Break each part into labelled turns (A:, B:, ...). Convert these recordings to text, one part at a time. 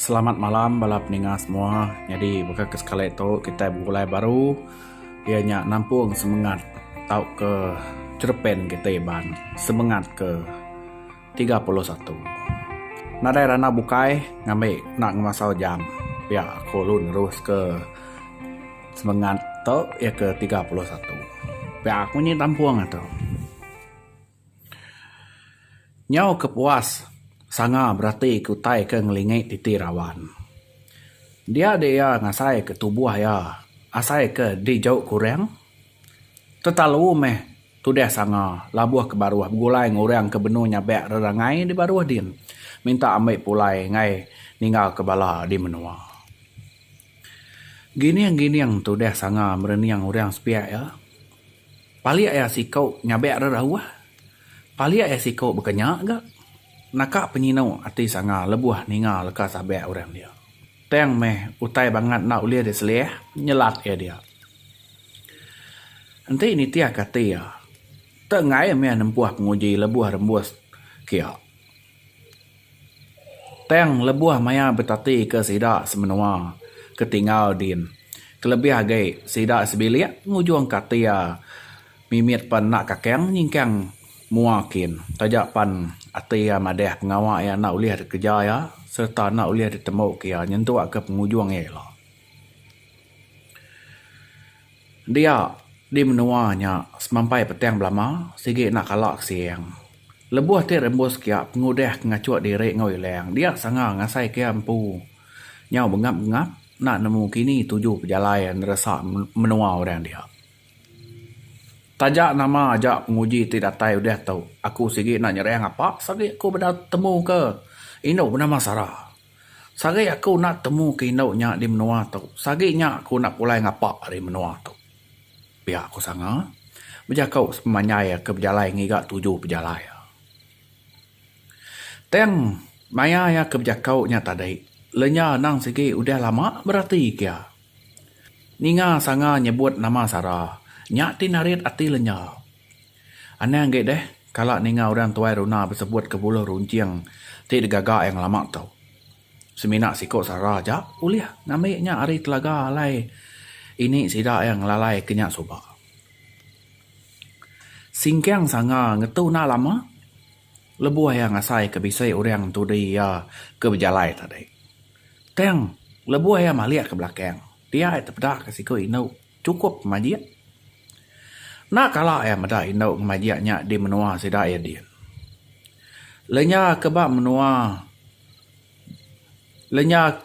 A: Selamat malam bala peninga semua. Nyadi baka ke sekali tu kitai begulai baru iya nya nampung semengat tauka cherepen kitai iban semengat ke tiga puluh satu. Nadai randau bukai ngambi kena ngemasau jam pia aku lalu neruske semengat tu iya ke tiga puluh satu. Pia aku nyi tampung atu. Nyau ke puas sanga berati ke utai ke ngelingi titi raban. Dia dek iya ngasai ke tubuh iya asai ke dijauh kurang tetalu meh tudah sanga labuh ke baruh begulai ngan orang ke benung nyabak rerangai di baruh din minta ambi pulai ngai ninggal ke bala di menua. Gining-gining tu deh sanga merening orang sepiak iya. Palik iya siku nyabek rerauh. Palik iya siku baka nya ga. Naka penyinu ati sanga lebuh ninga leka sabek orang dia. Tang meh utai bangat enda ulih diselih nyelak iya dia. Enti nitihka ati iya, tenggai meh nempuh penguji lebuh rembus kiya. Tang lebuh maya betatika sida semenua ke tinggal din, kelebih agi sida sebilik ngujung katia mimit pan enda kakang nyingkang mua kin taja pan ati iya madah pengawa iya enda ulih dikereja iya sereta enda ulih ditembuka iya nyentukka pengujung iya ila. Dia di menua nya semampai petang belama sigi enda kala ke siang. Lebuh ti rembus kia pengudah ke ngachuk diri enggau ilang dia sanga ngasai kia empu nyau bengap-bengap enda nemu kini tuju pejalai neresa menua orang dia. Taja nama aja penguji ti datai udah tu aku sigi enda nyerang apa saja aku beda temu ke indu benama Sara. Sehari aku enda temu ke indu nya di menua tu, sehari nya aku enda pulai ngapa ari menua tu. Pia aku sanga, bejaku sepemanjai ke bejalai ngiga tuju pejalai iya. Tang maya iya ke bejaku nya tadi, lenyau anang sigi udah lama berati ke iya. Ninga sanga nyebut nama Sara, nya ti narit ati lenyau. Anang agi deh kala ninga orang tuai runa besebut ke buluh runcing ti digaga iya ngelama tu. Semina siko sara aja ulih ngambi nya ari telaga alai ini sida iya ngelalai ke nya suba. Singkang sanga ngetu enda lama lebuh iya ngasai ke bisi orang entudi iya ke bejalai tadi. Tang lebuh iya malik ke belakang, dia iya tepeda ke siko indu. Chukup majik. Enda kala iya meda indu ngemajik nya di menua sida iya diin. Lenya ke ba menua lenya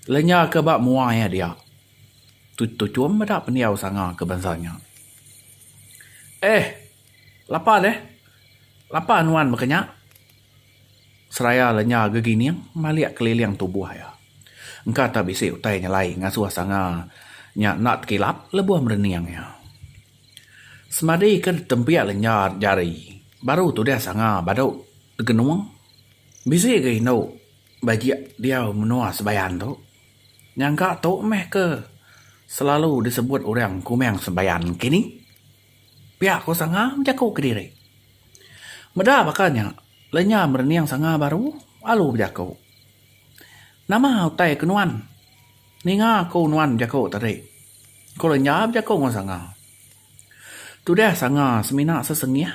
A: lenya ke ba mua iya dia tu tuchum meda pendiau sanga ke bansa nya. Eh! Lapa deh. Lapa nuan baka nya. Seraya lenya gegining malik keliling tubuh iya. Engka tak bisi utai nyelai ngasuh sanga nya enda tekilap lebuh merening iya. Semadi ke ditempik lenya jari baru tudah sanga badu degenung. Bisi ga indu bajik diau menua Sebayan tu. Nyangka tu meh ke selalu disebut orang Kumang Sebayan kini. Pia ko Sanga bejaku kediri. Meda baka nya, lenyau merening Sanga baru alu bejaku. Nama utai ke nuan? Ninga aku nuan bejaku tadi, ko lenyau bejaku enggau Sanga. Tudah Sanga semina sesengih.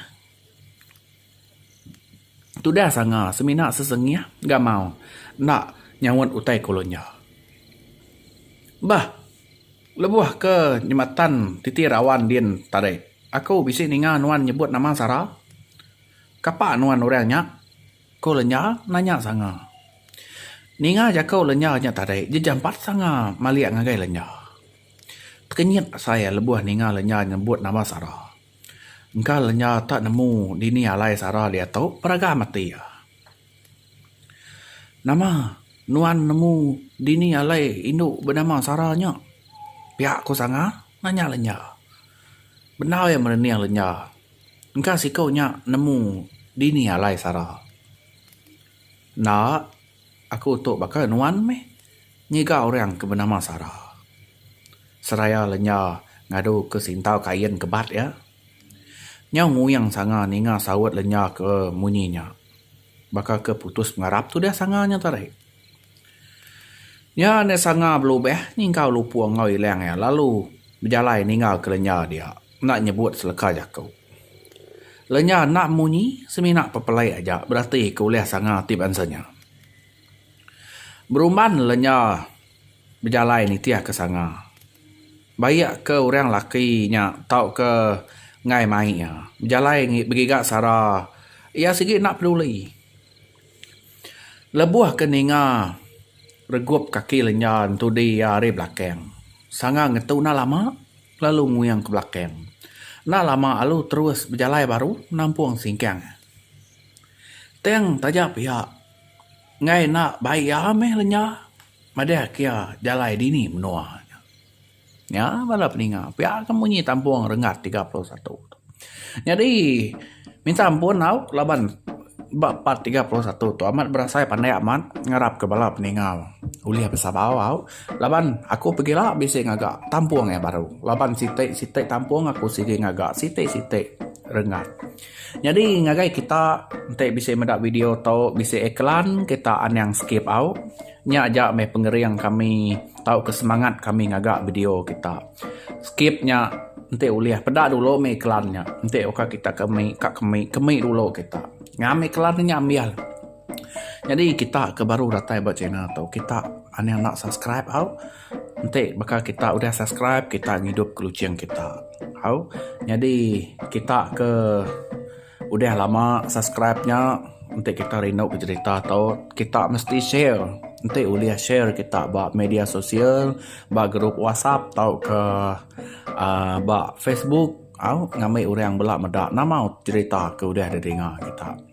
A: Tudah sanga semina sesengih gamau enda nyaut utai ku lunyo. Bah lebuh ke jematan titi rawan din tadi aku bisi ninga nuan nyebut nama Sara. Kapa nuan orang nya? ku Lenya nanya sanga. Ninga jaku Lenya nya tadi jejampat sanga malik ngagai Lenya. Tekenyit asai iya lebuh ninga Lenya nyebut nama Sara. Engka lenya tak nemu dini alai sara diatu peragam ati iya. Nama nuan nemu dini alai indu benama sara nya? Pia ku sanga nanya lenya. Bendar iya merening lenya. Engka siku nya nemu dini alai sara. Enda. Aku tu baka nuan meh ngiga orang ke benama Sara. Seraya lenya ngadu ke sintau kain ke bat iya. Nyau nguing sanga ninga saut lenya ke munyi nya. Baka ke putus pengarap tudah sanga nya tadi. Nya enda sanga belubah nyingkau lupu enggau ilang iya lalu bejalai ninggal ke lenya dia. Enda nyebut seleka jaku. Lenya enda munyi, semina pepelai aja berati ke ulih sanga ti bansa nya. Berumban lenya bejalai nitih ke sanga. Baik ke orang laki nya tauka enggai mai iya, bejalai begiga sara iya sigi enda peduli. Lebuh ke ninga regup kaki lenjan tudi iya ari belakang sanga ngetu enda lama lalu nguing ke belakang. Enda lama lalu terus bejalai baru nampung singkang. Tang taja pia enggai enda bai iya meh lenya madah ke iya jalai dini menua. Nya bala peninga pia ke munyi tampung renggat tiga puluh satu tu. Nyadi minta ampun au laban ba part tiga puluh satu tu amat berasai pandai amat ngarap ke bala peninga ulih besabau au laban aku pegila bisi ngaga tampung yang baru laban siti siti tampung aku sigi ngaga siti siti renggat. Nyadi ngagai kita enti bisi meda video tu bisi iklan kita anang skip au nya aja meh pengering kami tauka semangat kami ngaga video kita. Skip nya enti ulih peda dulu mih iklan nya enti uka kita ke mih ka ke mih ke mih dulu kita ngam iklan nya ambial. Nyadi kita ke baru datai ba channel tu kita anang enda subscribe au. Enti baka kita udah subscribe kita ngidup ke luching kita. Au nyadi kita ke udah lama subscribe nya enti kita rindu ke cerita tu kita mesti share. Enti ulih share kita ba media sosial ba group whatsapp tauka uhh ba facebook au ngambi orang bala meda nama cerita ke udah didinga kita.